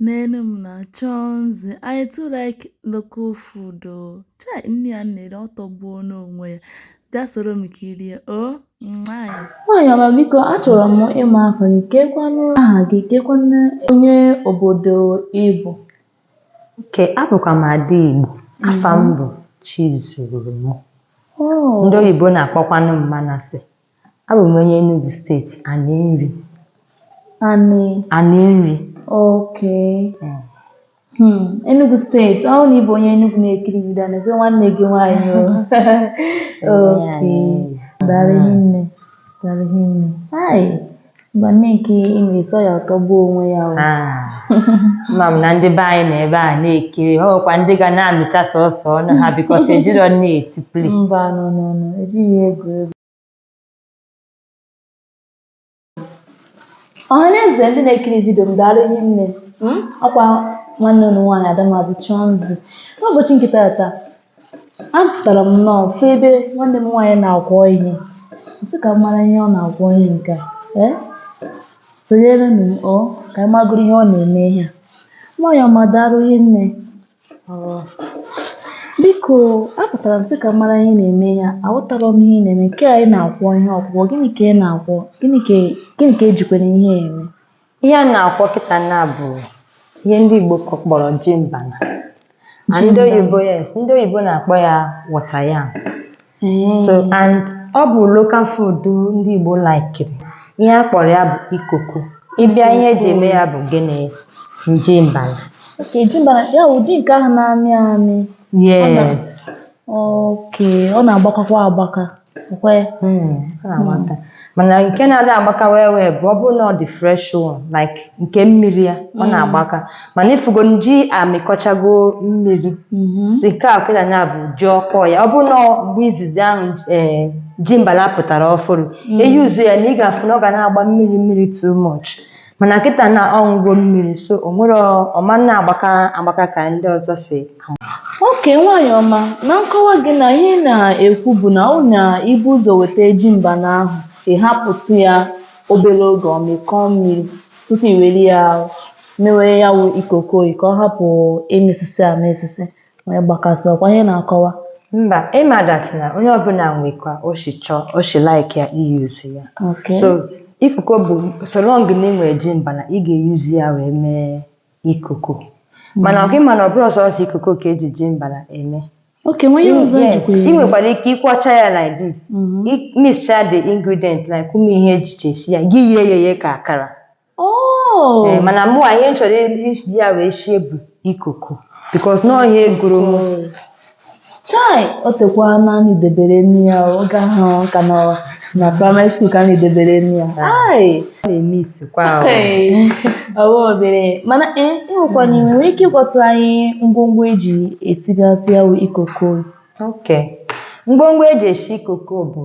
Nenu m na Chọnzị, I too like local food o. Oh. Chai, nri a na-eri ọ tọgbuo n'onwe ya. Bịa soro m kirie o. Oh. Nwaanyị. Nwaanyị ọma biko achọrọ m ịma afa gị kekwanụ aha gị kekwanụ onye obodo ị bụ. Ke abụkwa m ada Igbo. Afa m mm-hmm. bụ Chizurum. Oh. Ndị oyibo na-akpọkwanụ m Manase. Abụ m onye Enugu steeti, Aninri. Ani? Aninri. Oke. Hmm. Hmm. Enugu steeti, ọ na ị bụ onye Enugu na-ekiri vidio nebe nwanne gị nwaanyị o. Oke. Daalụ hinne. Daalụ hinne. Hai. Mba nni nke ị na-esi a ọ tọgbuo onwe ya o. Ah, ama m na ndị be anyị na ebe a na-ekiri a ọkwa ndị ga na-amịcha sọsọ ọnụ ha because ejirọ nni eti play Mba no no no ejighị ya egwu egwu. Ọhaneze ndị na-ekiri vidio m daalụ hinne ọkwa nwanne unu nwaanyị Ada Mazị Chọnzị n'ụbọchị nke taata Apụtara m nnọọ fụ ebe nwanne m nwaanyị na-akwọ ihe. M sị ka m mara ihe ọ na-akwọ ihe nke a. Ee, sonyere m o ka anyị magoro ihe ọ na-eme ihe a. Nwaanyị ọma daalụ hinne. O biko apụtara m sị ka m mara ihe ị na-eme ihe a. Aghọtarọ m ihe ị na-eme. Nke a ị na-akwọ ihe ọkwụkwọ, gịnị ka ị na-akwọ? Gịnị ka gịnị ka ejikwana ihe a eme? ihe a na-akwọ kịta na bụ ihe ndị Igbo kọ- kpọrọ ji mbana na ndị Ji mbana. oyibo yes ndị oyibo na-akpọ ya water yam so and ọ bụ local food ndị Igbo laikiri ihe a kpọrọ ya bụ ikoko ị bịa ihe eji eme ya bụ gịnị ji mbana Oke, ji mbana ya wụ ji nke ahụ na-amị amị yes oke ọ na-agbakakwa agbaka Mm, ọ na-agbaka. mana nke na-adị agbaka wee wee bụ ọ bụrụ na ọ dị fresh one like nke mmiri ya ọ na-agbaka mana ị fụgo na ji amịkọchago mmiri Mhm. si nke a kịta na bụ ji ọkpọ ya ọ bụrụ na ọ- mgbe izizi ahụ ee ji mbala pụtara ọfụrụ eyuzu ya na ị ga-afụ na ọ ga na-agba mmiri mmiri too much mana kịta na ọ ṅụgo mmiri so o nwerọ ọ ma na-agbaka agbaka ka ndị ọzọ si ama. Oke nwaanyị ọma, na nkọwa gị na ihe ị na-ekwu bụ na ọ na i bu ụzọ weta ji mbana ahụ, ị hapụtụ ya obere oge ọ mịkọọ mmiri tupu i were ya mewe ya wụ ikoko ka ọ hapụ ịmịsịsị amịsịsị. Wee gbakasị ọkwa ihe ị na-akọwa. Mba, ị ma that na onye ọbụla nwe ka o si chọọ, o si like ya iyuzu ya. Okay. So ikoko bụ so long na ị nwere ji mbala, ị ga-eyuzu ya wee mee ikoko. Mana ọkwa ị ma na ọ bụrọ sọsọ ikoko ka eji ji mbala eme. Okay, e nwe ihe ọzọ Yes, e jikwa ya eme. I nwekwara ike ịkwọcha ya like this. Mhm. Ị mixchaa the ingredient like ụmụ ihe eji esi ya, gị ghee ya eghe ka akara. Oh. Ee, mana mụwa ihe m chọrọ iji ya wee sie bụ ikoko bikos na ọ ihe gụrụ m Chai, o tekwa na anyị debere nri ya oge ahụ ka nọ na praịmarị skuul ka anyị debere nri ya. Ai, na-eme isikwa ahụ. Hey, ọwa obere mana ee ịnwekwana ị nwere ike ịgwatụ anyị ngwongwo eji esigasị ya wụ ikoko Okay. ngwongwo eji esi ikoko bụ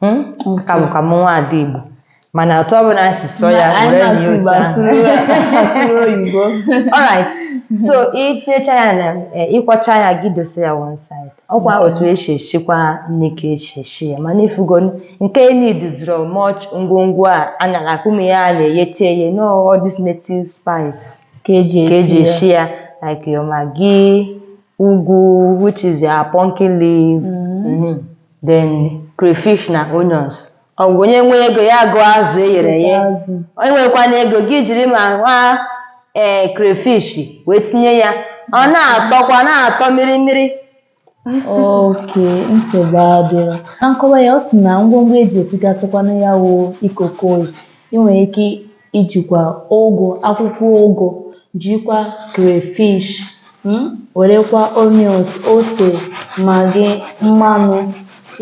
Hmm? aka bụkwa m nwa ada Igbo mana otu ọ bụla si sụọ ya anyị were na-asụ nye Igbo otu ahụ. asụrụ asụrụ oyibo Alright. so itinyecha ya na eh, ịkwọcha ya gị dosa ya one side ọkwa otu esi esikwa nni ka esi esi ya mana ifugo nke needizirọ much ngwongwo a a nara akụmi ya a na-eyecha eye no all this native spice ka eji ka eji esi esi ya like your maggi ụgụ which is your pumpkin leaf Mhm. then crayfish na onions ọ bụ onye nwee ego ya goo azụ e ghere eghe azụ onye nwekwana ego gị jiri ma nwa ee crayfish wee tinye ya ọ na-atọkwa na-atọ mmiri mmiri oke nsogbu adịrọ na nkọwa ya ọ sị na ngwongwo eji esigasịkwanụ ya wụ ikoko ị nwere ike ijikwa ụgụ akwụkwọ ụgụ jikwa crayfish mm, werekwa onions ose magị mmanụ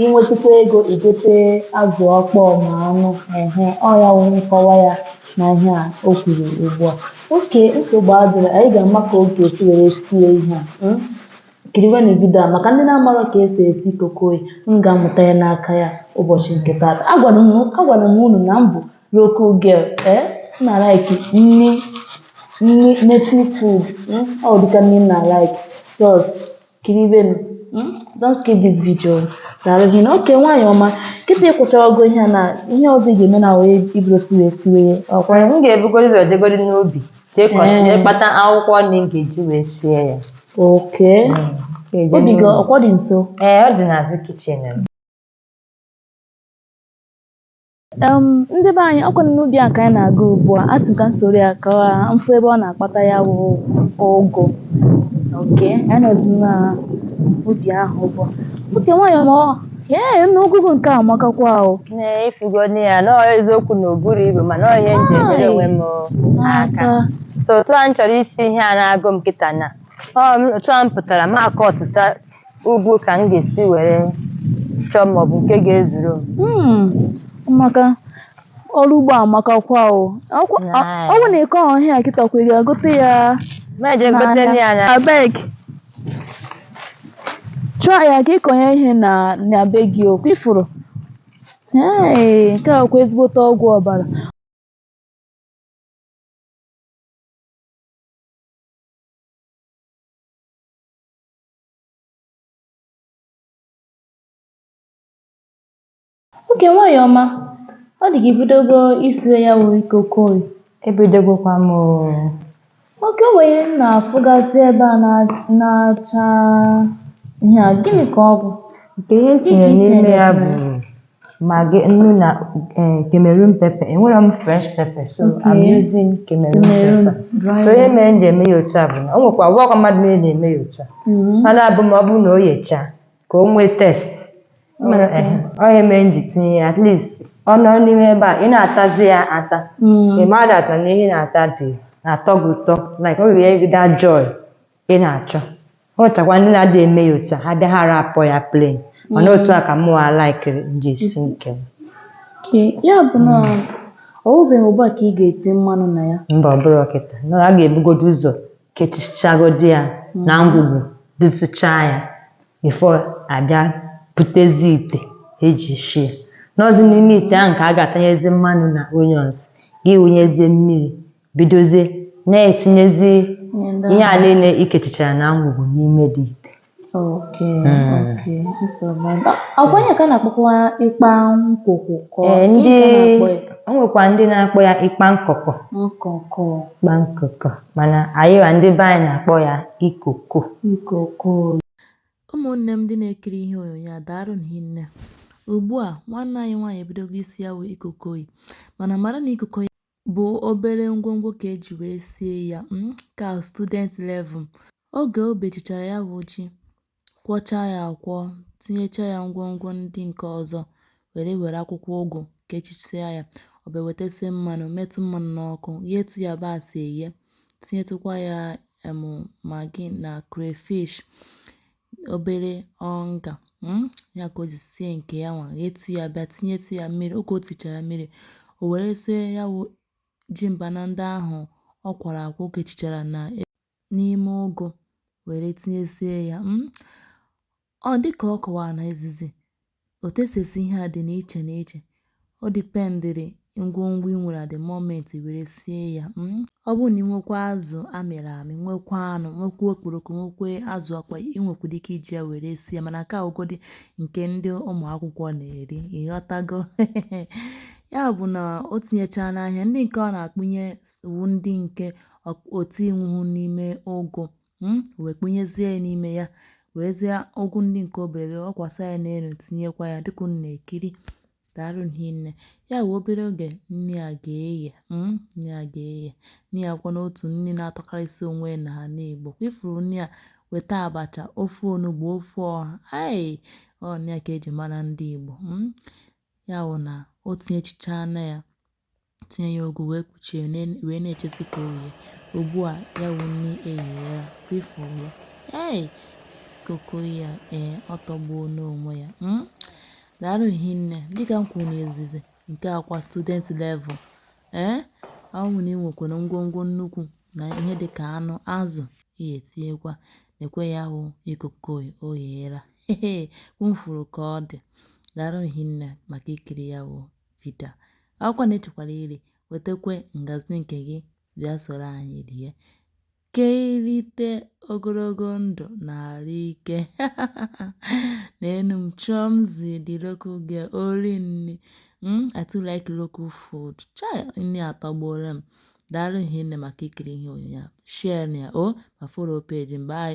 inwetukwa ego igote azụ ọkpọọ ma anụ ehe ọ ya wụ nkọwa ya na ihe a o kwuru ugbu a oke nsogbu adịrọ anyị ga-ama ka ọ ga-esi were sie ihe a mm. kiriwenụ vidio a maka ndị na-amarọ ka esi esi ikoko m ga-amụta ya n'aka ya ụbọchị nke taata agwara m agwara m unu na m bụ Local girl, eh? M na like nni nni native food. Hmm? Ọ dịka nni m na like. Just kiriwenụ. Hmm? Don't skip this video. Daalụ gị na oke nwaanyị ọma. Kịta ị kwọchago ihe a na ihe ọzọ ị ga-eme na wee ibido siwe siwe ya. Ọ kwa- m ga-ebugoro ụzọ jegoro n'ubi jee kọ- Ee. jee kpata akwụkwọ nri m ga-eji wee sie ya Oke. Ga-eje Ubi gị n'ubi. ọkwa ọ dị nso. ee ọ dị n'azụ kichin m Um, ndị be anyị ọkwanụ n'ubi a ka anyị na-aga ugbu a asị m ka m soro ya ka m fụ ebe ọ na-akpata ya bụ ụgụ oke anyị nọzi na ubi ahụ ugbu a oke nwaanyị ọma ọ ee nna ụgụ gị nke a amakakwa ahụ Ee, ifugonụ ya na ọ eziokwu na o burọ ibu mana ọ ihe m ji enyere onwe m aka so otu a m chọrọ isi ihe a na-agụ m kịta na ọ m- otu a m pụtara m akọ ọtụtụ ụgụ ka m ga-esi were chọọ ma ọ bụ nke ga-ezuru m Hmm, maka ọrụ ugbo amakakwa o Ọkwa- ọ ọ bụ na ị kọrọ ihe a kịta kwa ị ga-agote ya ma eje gote nri ya na abeg chụọ ya ka ịkọnye ihe na na be gị ọkwa ị fụrụ ee nke a kwa ezigbote ọgwụ ọbara Oke nwaanyị ọma, ọ dị ka i bidogo isiwe ya wụ ikokoyi. Ebidogokwa m oo. Okay o nwere ihe m na-afụgasị ebe a na- na-acha ihe a gịnị ka ọ bụ? Nke ihe m Gịnị ka tinyere i n'ime tinyere ya na bụ ya? Maggi, nnu na eh, Cameroon pepper. Enwerọ m fresh pepper, so Okay. I'm using Cameroon Cameroon pepper. dry So ihe mere m ji eme ya otu a bụ na o nwekwa ọ bụrọkwa mmadụ niile na-eme ya otu a. Mhm. Mana abụ ma ọ bụrụ na o yechaa ka o nwee taste. Mana Okay. ehe, ọ ihe mere m ji tinye ya at least ọ nọ n'ime ebe a ị na-atazi ya ata. Mm. Ị mara that na ihe ị na-ata dị na-atọ gị ụtọ like ọ ga-enye gị that joy ị na-achọ o nwechakwa ndị na-adịghị eme ya otu a ha bịa ha arapụ ya plain mana otu a ka mụ a laikiri m ji esi nke m Ke ya bụ na ọ wụbeghị ugbu a ka ị ga-eti mmanụ na ya mba ọ bụrọ kịta na a ga-ebugodo ụzọ kechichagodo ya na ngwugwu dosichaa ya before a bịa butezi ite eji esi ya n'ọzi n'ime ite ahụ ka a ga-atanyezi mmanụ na onions gị wụnyezie mmiri bidozie na-etinyezi Ihe ndị ihe a ahụ. niile i kechichara na ngwugwu n'ime the ite oke Mm. oke nsogbu ebe a. ọkwa ihe a ka a na-akpọkwa ekpang nkukwo ka ọ- Ee, gịnị ndị ka a na-akpọ ya? o nwekwa ndị na-akpọ ya ekpang nkukwo nkukwo ekpang nkukwo mana anyị wa ndị be anyị na-akpọ ya ikoko nkụkụ ụmụnne m ndị na-ekiri ihe onyonyo a daarụnụ hinne ugbu a nwanne anyị nwaanyị ebidogo isi ya wụ ikokoyi mana mara na ikokoyi bụ obere ngwongwo ka eji wee sie ya um ka student level oge o bechechara ya bụ ji kwọchaa ya akwọ tinyecha ya ngwongwo ndị nke ọzọ were were akwụkwọ ụgụ kechisia ya ọ bịa wetasie mmanụ metụ mmanụ n'ọkụ ghetu yabasị eghe tinyetụkwa ya um maggi na crayfish obere Onga um ya ka o ji sie nke ya nwa ghetu ya bịa tinyetu ya mmiri oge o tichara mmiri o werezie ya wụ ji mbana ndị ahụ ọ kwọrọ akwọ o kechichara na e, n'ime ụgụ were tinyesie ya um ọ dịka ọ kọwara na izizi Otu e si esi ihe a dị n'iche n'iche. Ọ dipendịrị ngwongwo i nwere at the moment i were sie ya. mm. Ọ bụrụ na ị nwekwa azụ a mịrị amị, nwekwa anụ, nwekwa okporoko, nwekwa azụ ọkpọ, i nwekwara ike iji ya were sie ya mana nke a wụgodị nke ndị ụmụ akwụkwọ na-eri. Ị ghọtago? Ya bụ na o tinyechaa n'ihe a, ndị nke ọ na-akpụnye s- wụ ndị nke ọ- o tinwuhu n'ime ụgụ hmm, wee kpụnyezie ya n'ime ya werezie ụgụ ndị nke obere wee wụkwasa ya n'enu tinyekwa ya dịka unu na-ekiri daalụ hinne ya wụ obere oge nni a ga-eghe hmm, nni a kwa n'otu nni na-atọkarịsị onwe ya n'ana Igbo ifuru nni a weta abacha ofe onugbu ofe ọha ai ọ nni a ka eji mara ndị Igbo hmm. ya wụ na o tinyechichaa na ya tinye ya ụgụ wee kpuchie wee na-echesi ka o ghee. Ugbu a ya wụ nni egheela, kwa ifuru ya. Hey! Koko ya ee ọ tọgbuona onwe ya. Mm? Daalụ hinne. Dịka m kwuru n'izizi nke a kwa student level ee eh? ọ bụrụ na ị nwekwara ngwongwo nnukwu na ihe dịka anụ, azụ ị ga-etinyekwa. Nekwe ya wụ ikoko o gheela. Kwa unu furu ka ọ dị. Daalụ hinne maka ikiri ya wụ vidio a ọ bụkwa na ị chọkwara iri wetekwe ngazi nke gị bịa soro anyị rie ka irite ogologo ndụ na arụ ike neenụ m Chọmzi the local girl ori nni hmm, I too like local food chai nni atọgbuola m daalụ hinne maka ikiri ihe onyonyo a share ya o ma follow page m bye